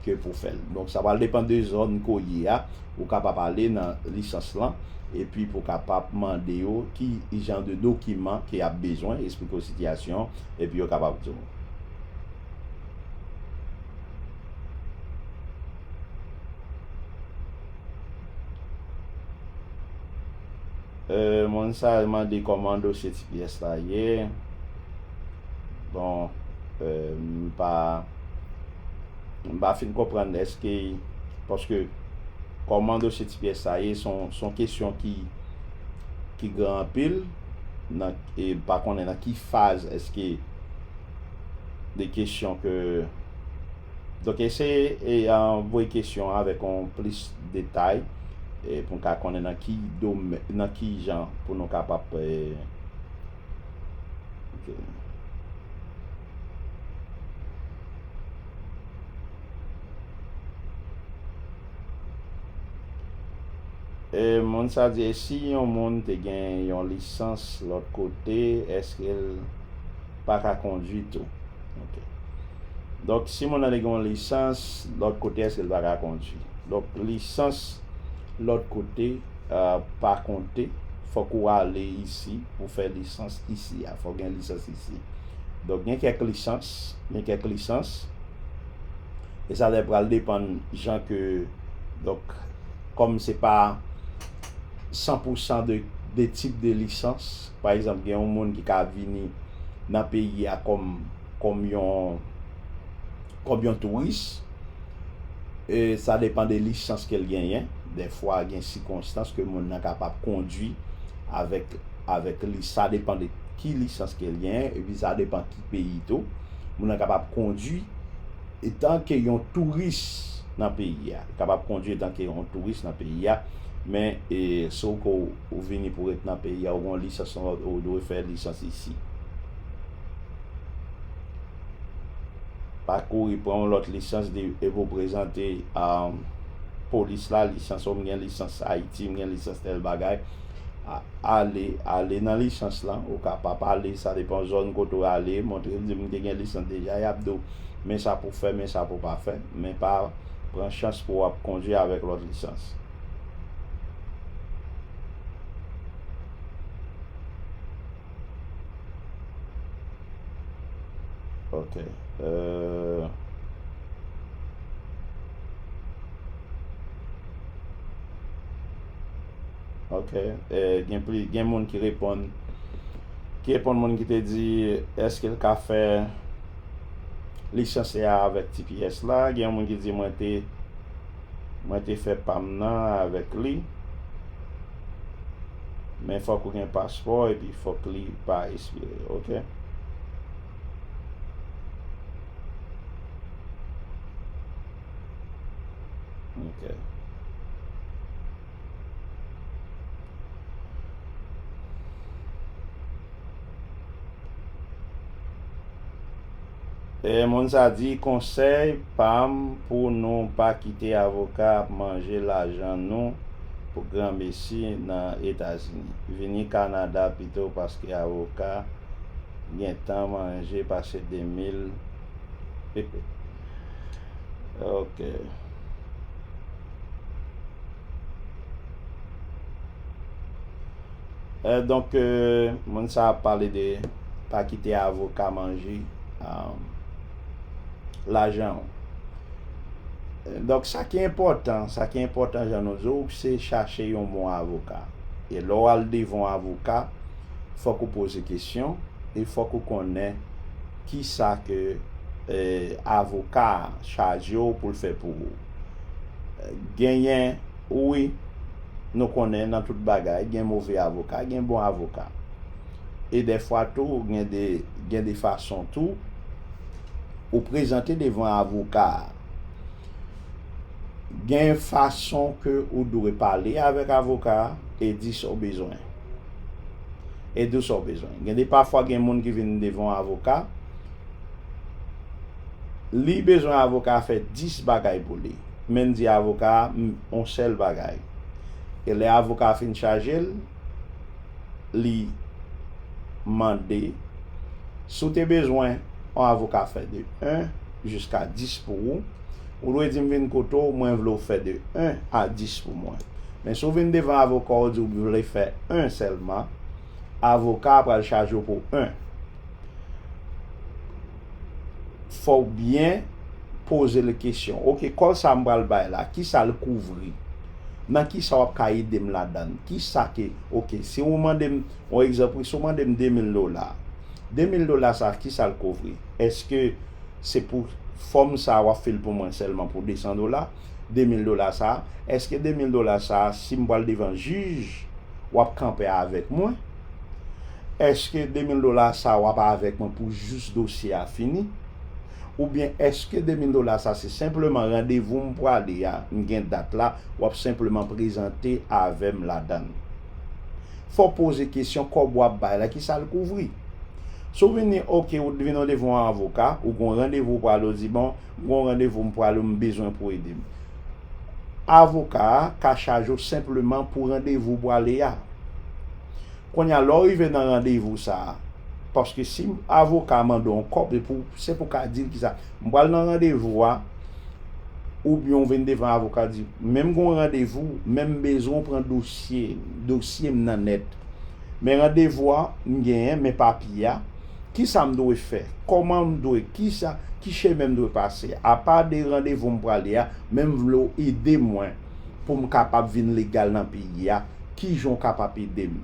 ke pou fè l. Donk sa pral depan de zòn ke w ye a ou kapab ale nan lisans lan epi pou kapab mande yo ki jan de dokiman ke y ap bezwen esplike w sitiyasyon w epi yo kapab di w. Euh moun sa al mande koman dosye ti pyès la ye. Bon euh m pa m pa fin konprann eske paske koman dosye ti pyès sa ye son son kesyon ki ki gran anpil nan e m pa konnen nan ki faz eske de kesyon ke donk eseye e voye kesyon avèk on plis detay e pou ka konnen nan ki domè nan ki jan pou nou kapab e moun sa di e si yon moun te gen yon lisans lòt kote èske l pa ka kondwi tou ok donk si moun nan li gen yon lisans lòt kote eske li pa ka kondwi donk lisans lòt kote pa konte fòk ou ale isi pou fè lisans isi a fòk gen lisans isi donk gen kèk lisans gen kèk lisans e sa lè pral depann jan ke donk kòm se pa san pou san de tip de lisans Pa egzanp, gen yon moun ki ka ap vini nan peyi a kòm, kòm yon, kòm yon touris. E sa depan de lisans ke l genyen. Dèfwa gen sikonstans ke moun nan kapab kondwi avèk, avèk li. Sa depan de ki lisans ke l genyen. E pi sa depan ki peyi tou. Moun nan kapab kondwi etan ke yon touris nan peyi a. Kapab kondwi etan ke yon touris nan peyi a. Men e, si w ke w. Ou vini pou ret nan peyi a ou gon lisans ou dwe fè lisans isi. Pa kouri pran yon lòt lisans di epi ou prezante polis la lisans ou m gen lisans ayiti m gen lisans tèl bagay ale ale nan lisans lan ou ka pa pale sa depan zòn kote ou ale montre l di m te gen lisans deja y ap di w men sa pou fè men sa pou pa fè men pa pran chans pou w ap kondwi avèk lòt lisans. Ok. Euh... Ok. Euh, gen, pli, gen moun ki reponn. Ki reponn moun ki te di, eske l ka fè lisanse a avèk TPS la? Gen yon moun ki di mwen te. Mwen te fè pam nan avèk li. Men fòk ou gen paspò epi fòk li pa espire ok. Ok. Moun sa di konsèy pam pou nou pa kite avoka ap manje lajan nou pou gran mesi nan etazini vini kanada pito paske avoka gentan manje pase 2000 ok. Euh donc moun sa ap pale de pa kite avoka manje lajan w. Donc sa ki enpòtan, sa ki enpòtan jan nou di w se chache yon bon avoka. E lè w al devan yon avoka fòk ou poze kesyon e fòk ou konnen kisa ke avoka a chaje w pou l fè pou ou. Genyen. Wi, nou konnen nan tout bagay gen move avoka, gen bon avoka. E dèfwa tou gen de gen de fason tou ou prezante devan avoka a. Gen fason ke ou dwe pale avèk avoka a e di sa w bezwen. E di w sa w bezwen. Gen de pafwa gen moun ki vin devan yon avoka. Li bezwen avoka fè 10 bagay pou li. Men di avoka a m on sèl bagay. E lè avoka a fin chaje l, li mande si w te bezwen on avoka fè de 1 jiska 10 pou ou, ou dwe di m vin kote w mwen vle w fè de 1 a 10 pou mwen. Men si w vin devan avoka w di w vle fè 1 sèlman, avoka a pral chaje w pou 1. fòw byen pozel kesyon ok kòl sa m pral bay la kisal kouvri nan kisa wap ka edem ladann kisa ke ok si ou mandem yon egzanp wi si ou mandem 2000 dola 2000 dola sa kisal kouvri eske se pou fòm sa wap fil pou mwen sèlman pou 200 dola. 2000 dola sa eske 2000 dola sa sim pwal devan jij wap kanpè avèk mwen eske 2000 dola sa wap avèk mwen pou jous dosye a fini oubyen eske 2000 dola sa se senpleman randevou m pwale a m gen dat la wap senpleman prezante avèm ladann fò poze kesyon kòb wap bay la kisal kouvri sou vini ok ou t vini ou devan yon avoka ou gon randevou pwale ou di bon Gon randevou m pwale ou m bezwen pou ede m. Avoka a ka chaje w senpleman pou randevou w pwale a. Kounye a lè w rive nan randevou sa a, paske si avoka a mande w yon kòb se pou se pou w ka di l kisa, m pwale nan randevou a, oubyen w vin devan avoka a di, men m gon randevou, men m bezwen w pran dosye, dosye m nan nèt. Men randevou a m genyen, men papye a. Kisa m dwe fè? Kòman m dwe? Kisa, ki chemen m dwe pase? Apa de randevou m prale a, men m vle w ede mwen pou m kapab vin legal nan peyi a, kijan w kapab ede m?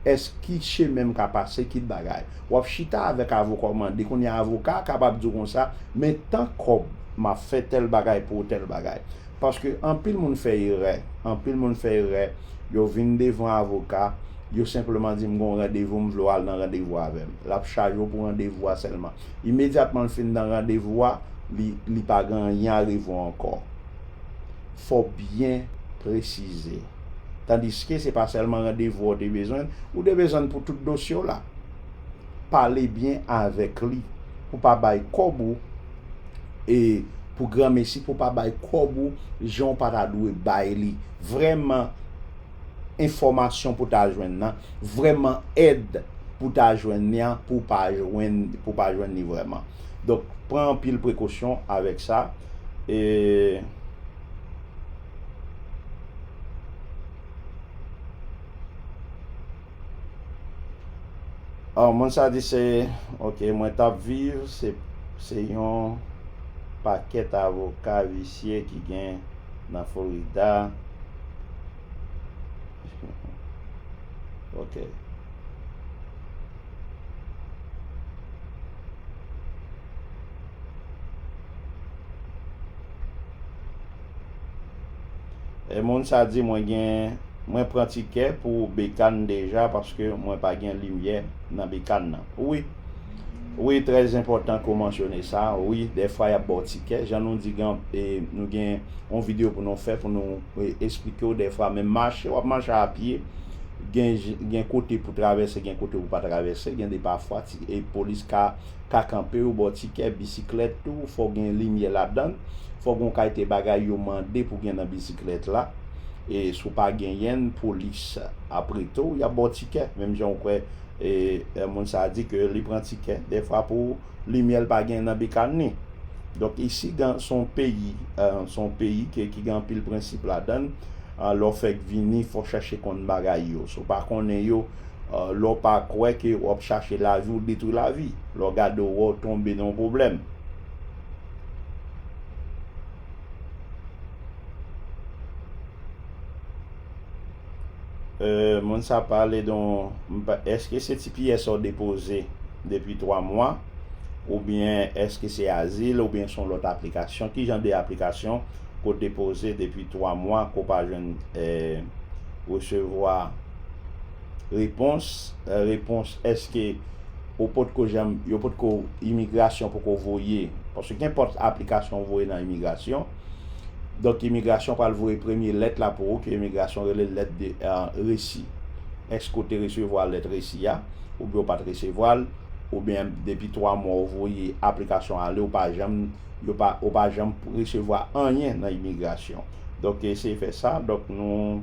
Èske, ki chemen m ka pase, ki bagay? W ap chita avèk avoka w mande, kounye a avoka a kapab di w konsa, men tan kòb m ap fè tèl bagay pou w, tèl bagay. Paske anpil moun fè erè, anpil moun fè erè, yo vin devan avoka, yo senpleman di m gon randevou m vle w al nan randevou avè m. L ap chaje w pou randevou a sèlman. Imedyatman l fin nan randevou a, li li pa gen anyen a rive w ankò. Fò w byen presize. Tandiske se pa sèlman randevou a w te bezwen l, ou te bezwen l pou tout dosye w la. Pale byen avèk li pou pa bay kòb ou. e pou gran mesi pou pa bay kob ou jan ou pa ta dwe bay li vreman enfomasyon pou ta jwenn nan vreman ed pou ta jwenn ni an pou pa jwenn pou pa jwenn ni vreman donk pran anpil prekosyon avek sa e. An moun sa di se ok mwen tap viv se se yon pakèt avoka visye ki gen nan Florida ok. E moun sa di mwen gen mwen pran tikè pou bekann deja paske mwen pa gen limyè nan bekann nan wi wi trè enpòtan ke w mansyone sa wi dèfwa yap baw tikè jan nou di gen e nou gen yon video pou nou fè pou nou esplike w dèfwa menm mache wap mache a pye gen gen kote pou travèse gen kote pou pa travèse gen de pafwa ti e polis ka ka kanpe ou ba w tikè, bisiklèt tou fò w gen limyè ladan l, fò w gen yon kalite bagay yo mande pou gen nan bisiklèt la, e si w pa genyen l polis ap rete w y ap ba w tikè menm jan ou kwè moun sa a di ke li pran tikè defwa pou limyè l pa gen nan bikàn li. Donk isi gen s on peyi s on peyi ke ki gen anpil prensip ladan l lè w fèk vini fò w chache konn bagay yo si w pa konnen yo lè w pa kwè ke w ap chache lavi ou detwi lavi, lè w gade ou wè w tonbe nan yon pwoblèm. Moun sa pale de yon, eske se ti pyè sa w depoze depi 3 mwa oubyen eske se azil oubyen se yon lòt aplikasyon, ki jan de aplikasyon ke w depoze depi 3 mwa ke w pa jwenn resevwa Repons, Repons, Èske ou potko janm, yo potko, imigrasyon poko voye, paske kenpòt aplikasyon ou voye nan imigrasyon, donk imigrasyon pral voye premye lèt la pou ou ke imigrasyon rele lèt de resi. Èske ou te resevwa lèt resi a, oubyen ou pa t resevwa l, oubyen depi 3 mwa ou voye aplikasyon an ale ou pa janm, yo pa, ou pa janm resevwa anyen nan imigrasyon. Donk eseye fè sa, donk nou.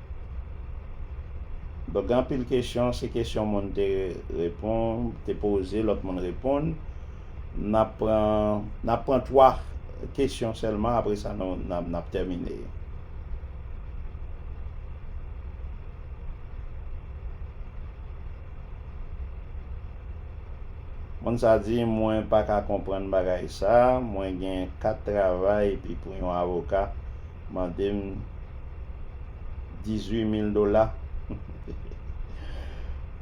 Donk gen anpil kesyon, se kesyon moun te repon, te poze, lòt moun reponn. N ap pran, n ap pran 3 kesyon sèlman apre sa nou n ap tèmine. Moun sa a di, mwen pa ka konprann bagay sa, mwen gen 4 travay epi pou yon avoka Mande m 18 mil dola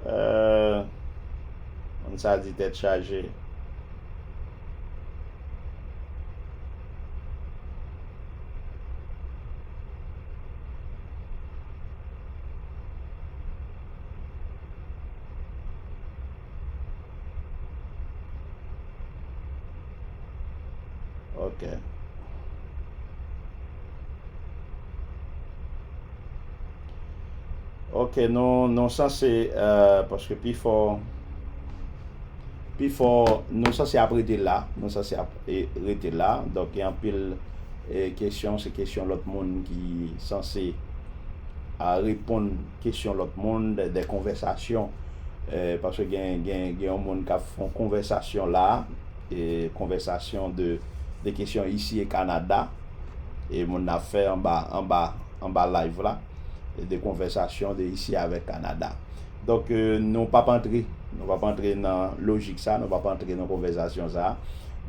Ahh moun sa di tèt chaje. Ok. Ok, nou, nou sa se, euh, paske pi fò, pi fò, nou sa se ap rete la, nou sa se ap e, rete la, donk gen anpil e, kesyon, se kesyon lòt moun ki sanse a reponn. kesyon lòt moun, dè konvèsasyon, paske gen yon moun kap fon konvèsasyon la, e konvèsasyon de kesyon isi e Kanada, e moun nan ap fè anba, anba, anba live la, de konvèsasyon de isi avèk Kanada. Donk nou pap antre, nou pap antre nan lojik sa, nou pap antre nan konvèsasyon sa.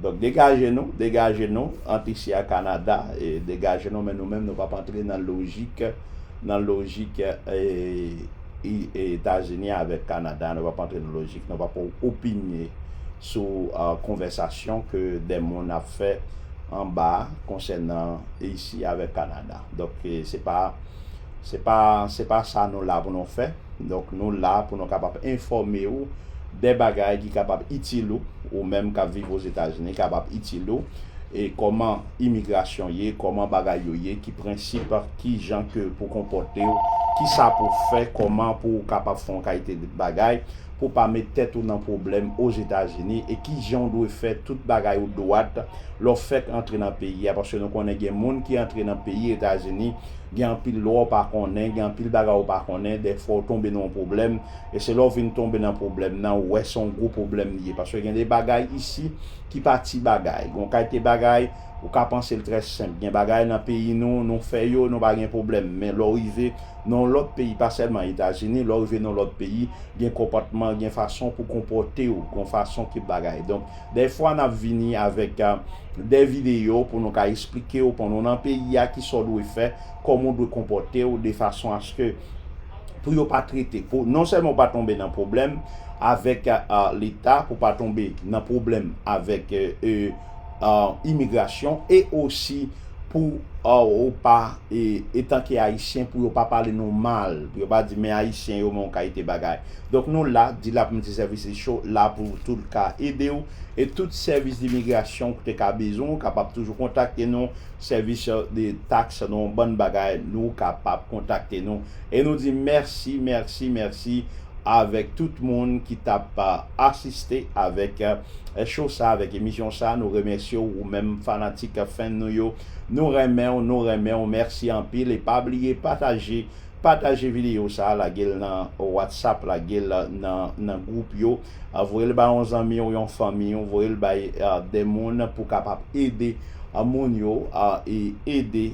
Donk degaje nou, degaje nou ant isi a Kanada, e degaje nou men nou menm nou pap antre nan lojik. nan lojik Etazini avèk Kanada, nou pap antre nan lojik, nou pap opinye sou konvèsasyon ke dè moun ap fè anba konsènan Risi avèk Kanada. Donk se pa se pa sa nou la pou nou fè. Donk nou la pou nou kapab enfòme ou de bagay ki kapab itil ou, ou menm kap viv Ozetazini kapab itil ou, e kòman imigrasyon ye, kòman bagay yo ye, ki prensip, kijan ke pou konpòte ou, kisa pou fè, kòman pou ou kapab fè yon kalite de bagay pou pa met tèt ou nan pwoblèm Ozetazini, e kijan ou dwe fè tout bagay ou dwat lè w fèk antre nan peyi a, paske nou konnen gen moun ki antre nan peyi Etazini Gen anpil lwa ou pa konnen, gen anpil bagay ou pa konnen, dèfwa ou tonbe nan yon pwoblèm, e se lè ou vin tonbe nan pwoblèm nan ou wè se yon gwo pwoblèm li ye, paske gen de bagay isi ki pa ti bagay, gen yon kalite bagay ou ka panse l trè senp, gen bagay nan peyi nou, nou fè yo, nou pa gen pwoblèm, men lè w rive nan yon lòt peyi, pa sèlman Etazini, lè w rive nan yon lòt peyi, gen konpòtman, gen fason pou konpòte w, gen yon fason ke bagay, donk. Dèfwa nap vini avèk dè videyo pou nou ka esplikew pandan w nan peyi a kisa w dwe fè, kòman w dwe konpòtew de fason aske pou yo pa trete, pou non sèlman w pa tonbe nan pwoblèm avèk leta, pou w pa tonbe nan pwoblèm avèk imigrasyon e osi Pou ou pa e etanke ayisyen pou yo pa pale nou mal, pou yo pa di men ayisyen yo men yon kalite bagay. Donk nou la, Dilap Multi Services Show la pou tou l ka ede w e tout sèvis dimigrasyon ou te ka bezwen ou kapab toujou kontakte nou, sèvis de tax nou bann bagay nou kapab kontakte nou. E nou di mèsi, mèsi, mèsi avèk tout moun ki t ap asiste avèk show sa, avèk emisyon sa. Nou remèsye w ou menm fanatik fèn nou yo. Nou renmen w, nou renmen w. Mèsi anpil e pa bliye pataje, pataje videyo sa, lage l nan WhatsApp, lage l nan nan gwoup yo, voye l ba yon zanmi w, yon fanmi w, voye l bay de moun pou kapab ede moun yo e ede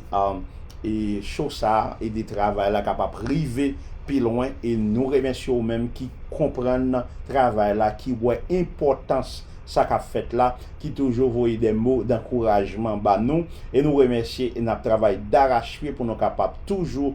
E show sa ede travay la kapap rive pi lwen e nou remèsye ou menm ki konprann travay la ki wè enpòtans sa kap fèt la ki toujou voye dè mo dankourajman ba nou e nou remèsye e nap travay darachpye pou nou kapab toujou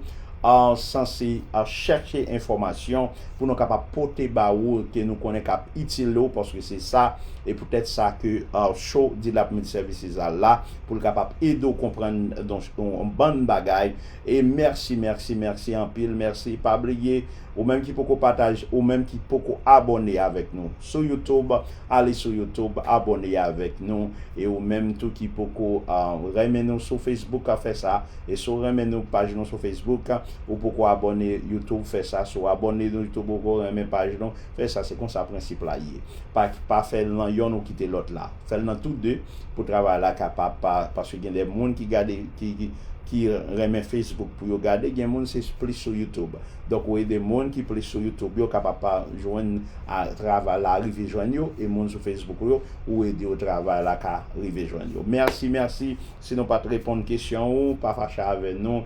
sanse chèche enfòmasyon pou nou kapab pote ba ou ke nou konnen kap itil ou paske se sa e poutèt sa ke show Dilap Media Services la pou l kapab ede w konprann yon bann bagay e mèsi mèsi mèsi anpil mèsi pa bliye ou menm ki poko pataj ou menm ki poko abòne avèk nou sou youtube ale sou youtube abòne avèk nou e ou menm tou ki poko renmen nou sou facebook fè sa e si w renmen nou paj nou sou facebook ou poko abòne youtube fè sa si w abòne nou youtube ou poko renmen paj nou fè sa se konsa prensip la ye pa fè l nan yonn ou kite lòt la. Fèl nan tou 2 pou travay la ka pa pa paske gen de moun ki gade ki ki renmen Facebook pou yo gade gen moun se plis sou YouTube donk ou ede moun ki plis sou YouTube yo ka pa pa jwenn a travay la rive jwenn yo e moun sou Facebook ou yo ou ede yo travay la ka rive jwenn yo merci merci si nou pat reponn kesyon ou pa fache avè nou.